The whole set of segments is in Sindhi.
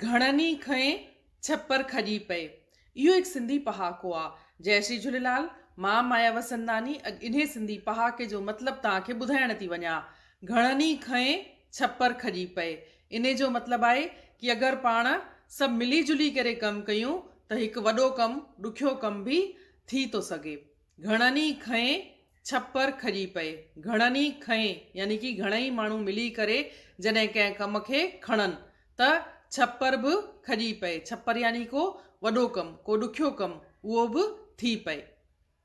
گهڻن ئي کئين ڇپر کڄي پئي. اهو هڪ سنڌي پهاڪو آ. جئي شري جهوليلال، مان مايا وسنداني اڄ انهي سنڌي پهاڪي جو مطلب توهان کي ٻڌائڻ ٿي وڃان. گهڻن ئي کئين ڇپر کڄي پئي. انهي جو مطلب آهي ڪي اگر پاڻ سڀ ملي جلي ڪري ڪم ڪيون ته هڪ وڏو ڪم ڏکيو ڪم به ٿي ٿو سگهي. گهڻن ئي کئين ڇپر کڄي پئي. گهڻن ئي کئين يعني ڪي گهڻئي ماڻهو ملي ڪري جڏهن ڪنهن ڪم کي کڻن ته ڇپر به کڄي پئي. ڇپر يعني ڪو وڏو ڪم، ڪو ڏکيو ڪم اهو به ٿي پئي.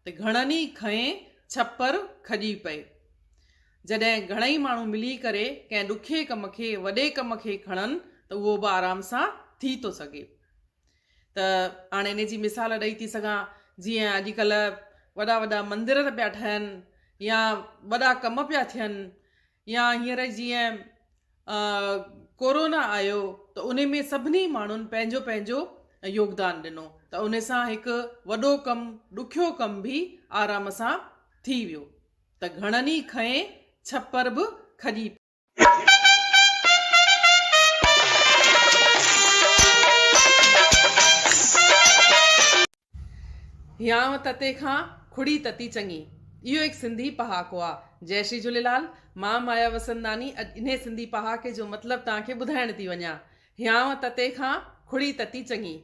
ته گهڻن ئي کئين ڇپر کڄي پئي. جڏهن گهڻئي ماڻهو ملي ڪري ڪنهن ڏکئي ڪم کي، وڏي ڪم کي کڻن ته اهو به آرام سان ٿي ٿو سگهي. ته هاڻي ان جي مثال ڏئي ٿي سگهان جيئن اڄڪلهه وڏا وڏا مندر ته پيا ٺهن يا وڏا ڪم پيا ٿين يا هينئر جيئن ڪورونا آيو ته ان ۾ سڀني ماڻهن پنهنجو پنهنجو يوگدان ڏنو ته ان سان هڪ وڏو ڪم ڏکيو ڪم به آرام سان ٿي ويو ته گهڻن ئي کنئي ڇپر به کڄي پيو هيانء تتي کان کڙي تتي چڱي. اهو هڪ سنڌي پهاڪو آ. جئي شري جهوليلال. مان مايا وسنداني اڄ انهي سنڌي پهاڪي جو مطلب توهان کي ٻڌائڻ ٿي وڃان. هيانء تتي کان کڙي تتي چڱي.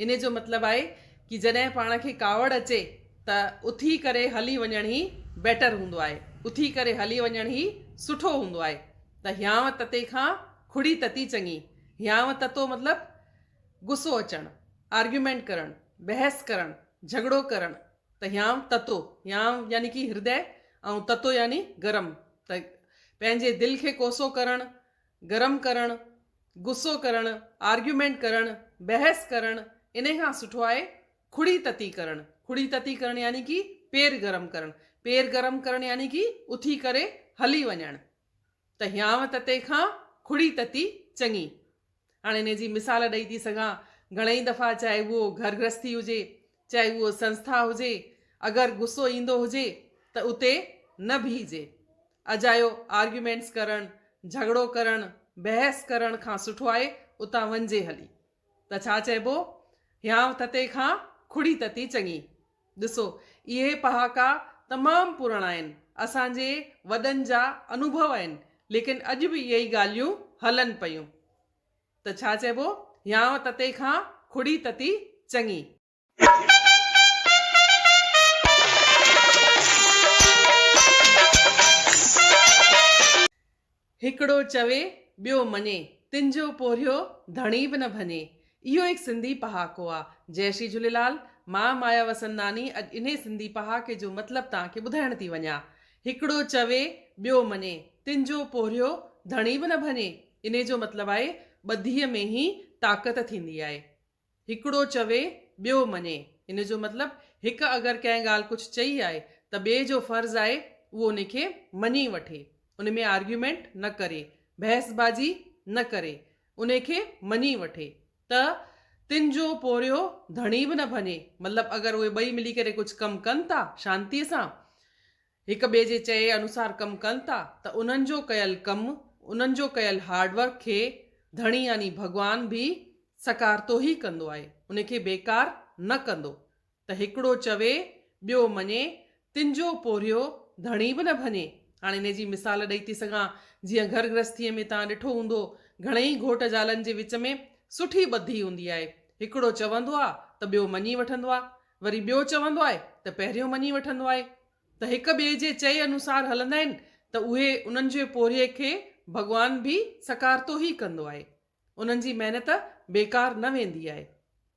انهي جو مطلب آهي ڪي جڏهن پاڻ کي ڪاوڙ اچي ته اٿي ڪري هلي وڃڻ هي بيٽر هوندو آهي. اٿي ڪري هلي وڃڻ هي سٺو هوندو آهي. ته هيانء تتي کان کڙي تتي چڱي. هيانء تتو مطلب غصو اچڻ، آرگيومينٽ ڪرڻ، بحث ڪرڻ، جهڳڙو ڪرڻ. ته هيانء تتو، هيانء يعني ڪي هردئه ۽ تتو يعني گرم. ته پنهنجي دل کي ڪوسو ڪرڻ، گرم ڪرڻ، غصو ڪرڻ، آرگيومينٽ ڪرڻ، بحث ڪرڻ، انهي کان سٺو آهي کڙي تتي ڪرڻ، کڙي تتي ڪرڻ يعني ڪي پير گرم ڪرڻ، پير گرم ڪرڻ يعني ڪي اٿي ڪري هلي وڃڻ ته هيانء تتي کان کڙي تتي چڱي. هاڻي انهي جي مثال ڏئي ٿي سگهان، گهڻئي دفعا چاهي اهو گهر گرهستي هجي چاهي اهو سنسٿا هجي، اگر غصو ايندو هجي ته اتي نه بيهجي. اجايو آرگيومينٽس ڪرڻ، جهڳڙو ڪرڻ، بحث ڪرڻ کان سٺو آهي اتان وڃجي هلي. ته ڇا چئبو، هيانء تتي کان کڙي تتي چڱي. ڏسو اهي پهاڪا تمام پراڻا آهن، اسان جي وڏن جا انوڀو آهن، ليڪن اڄ به اهي ئي ڳالهيون هلن پيون. ته ڇا چئبو، هيانء تتي کان ڪھڙي تتي چڱي. هڪڙو چوي، ٻيو مڃي، تن جو پورهيو ڌڻي به نه ڀڃي. اهو هڪ سنڌي پهاڪو آ. جئه شري جهوليلال. مان مايا وسنداني اڄ انهي سنڌي پهاڪي جو مطلب توهان کي ٻڌائڻ ٿي وڃان. هڪڙو چوي، ٻيو مڃي، تن جو پورهيو ڌڻي به نه ڀڃي. انهي جو مطلب آهي ٻڌيء ۾ هي طاقت ٿيندي آهي. هڪڙو چوي، ٻيو مڃي. ان جو مطلب هڪ اگر ڪنهن ڳالهه ڪجهه چئي آهي ته ٻئي جو فرض آهي اهو ان کي مڃي وٺي. ان ۾ آرگيومينٽ نه ڪري، بحث بازي نه ڪري. ان کي مڃي وٺي. ته تن جو پورهيو ڌڻي به نه ڀڃي. مطلب اگر اهي ٻئي ملي ڪري ڪجهه ڪم ڪن ٿا شانتيء سان، هڪ ٻئي جي چئي انوسار ڪم ڪن ٿا ته انهن جو ڪيل ڪم، انهن جو ڪيل هارڊ ورڪ کي ڌڻي يعني ڀڳوان به سڪارتو ئي ڪندو آهي، ان کي بيڪار نه ڪندو ته هڪڙو چوي ٻيو مڃي، تن جو پورهيو ڌڻي به نه ڀڃي. هاڻ انهيء جي مثال ڏئي ٿي سگهان، جيئن گهر گرهستيء ۾ توهان ڏٺو هوندو، گهڻيئي گهوٽ زالن جي وچ ۾ سٺي ٻڌي هوندي آهي، هڪڙو چوندو آ ته ٻيو مڃي وٺندو آ، وري ٻيو چوندو آهي ته پهريون مڃي وٺندو آهي ته هڪ ٻئي جي چئي انوسار هلندا آهن ته اهي انهن جي پورهيي کي ڀڳوان به سڪارتو ئي ڪندو آهي. انهن جي محنت بيڪار نه ويندي آهي.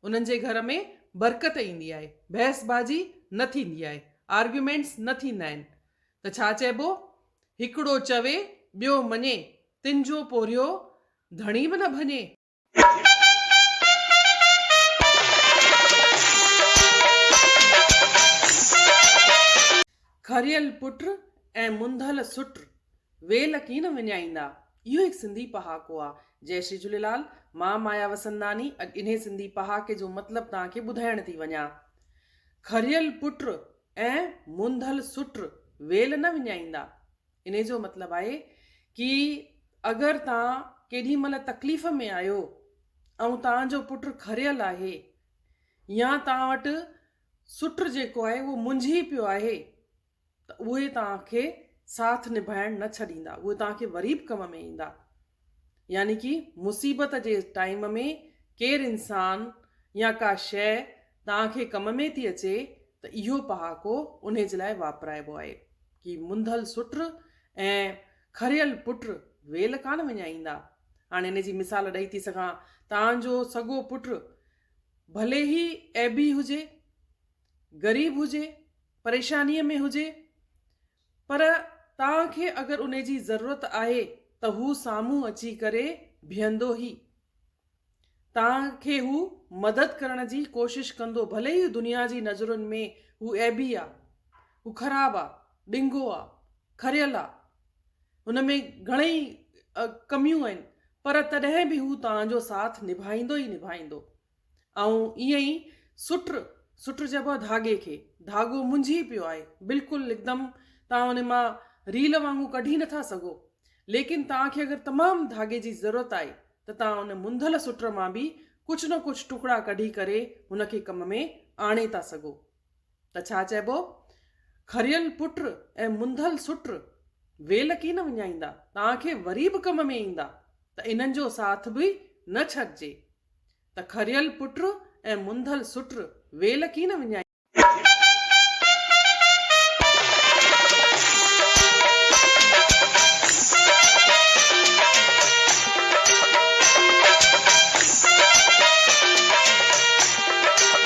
انهن جي گهر ۾ برڪت ايندي آهي. بحث بازي نه ٿيندي آهي. آرگيومينٽس نه ٿيندا آهن. ته ڇا چئبو هڪڙو چوي ٻيو مڃي تنهن جو پورهيو ڌڻي به نه ڀڃي. کريل پٽ ۽ منڌل سٽ ويل ڪين وڃائيندا اهو هڪ سنڌي پهاڪو آ جئ شري جهوليلال مان مايا وسنداني اڄ انهي سنڌي پهاڪي جو مطلب توهان کي ٻڌائڻ ٿي وڃان کريل پٽ ۽ منڌل سٽ ويل نه وڃائيندا انهي جو مطلب آهي ڪي اگر توهان ڪيڏي مهل تڪليف ۾ آهيو ۽ توهان جو پٽ کريل آهي يا توهان وٽ سٽ جيڪو آهي اهو منجهي پيو آهي ته اهي توهان کي ساٿ نڀائڻ نه ڇڏيندا اهي توهان کي وري به ڪم ۾ ايندا. يعني ڪي مصيبت جي ٽائيم ۾ ڪير انسان يا ڪا شيء توهان کي ڪم ۾ ٿي اچي ته اهو پهاڪو انهي جي لاء واپرائبو آهي. ڪي منڌل سٽ ۽ کريل پٽ ويل ڪانه وڃائيندا. هاڻي ان جي مثال ڏئي ٿي سگهان. توهان جو سڳو پٽ ڀلي هي عيبي هجي، غريب هجي، پريشانيء ۾ هجي، پر توهان کي اگر انهي جي ضرورت آهي ته هو سامهون اچي ڪري بيهندو هي توهان کي هو مدد ڪرڻ جي ڪوشش ڪندو ڀلي ئي دنيا جي نظرن ۾ هو عيبي آ هو خراب آ ڏنگو آ کريل آ هن ۾ گهڻئي ڪميون آهن پر تڏهن به هو توهان جو ساٿ نڀائيندو ئي نڀائيندو آئون ائين ئي سٽ سٽ چئبو آهي ڌاڳي کي. ڌاڳو منجهي پيو آهي. بلڪل هڪدم توهان ان مان ريل وانگون ڪڍي نه ٿا سگهو. ليڪن توهان کي اگر تمام ڌاڳي جي ضرورت آهي ته توهان ان منڌل سٽ مان به ڪجهه نه ڪجهه ٽڪڙا ڪڍي ڪري هن کي ڪم ۾ آڻي ٿا سگهو. ته ڇا چئبو، کريل پٽ ۽ منڌل سٽ، ويل ڪين وڃائيندا، تان کي وري به ڪم ۾ ايندا، ته انهن جو ساٿ به نه ڇڏجي. ته کريل پٽ ۽ منڌل سٽ، ويل ڪين وڃائيندا.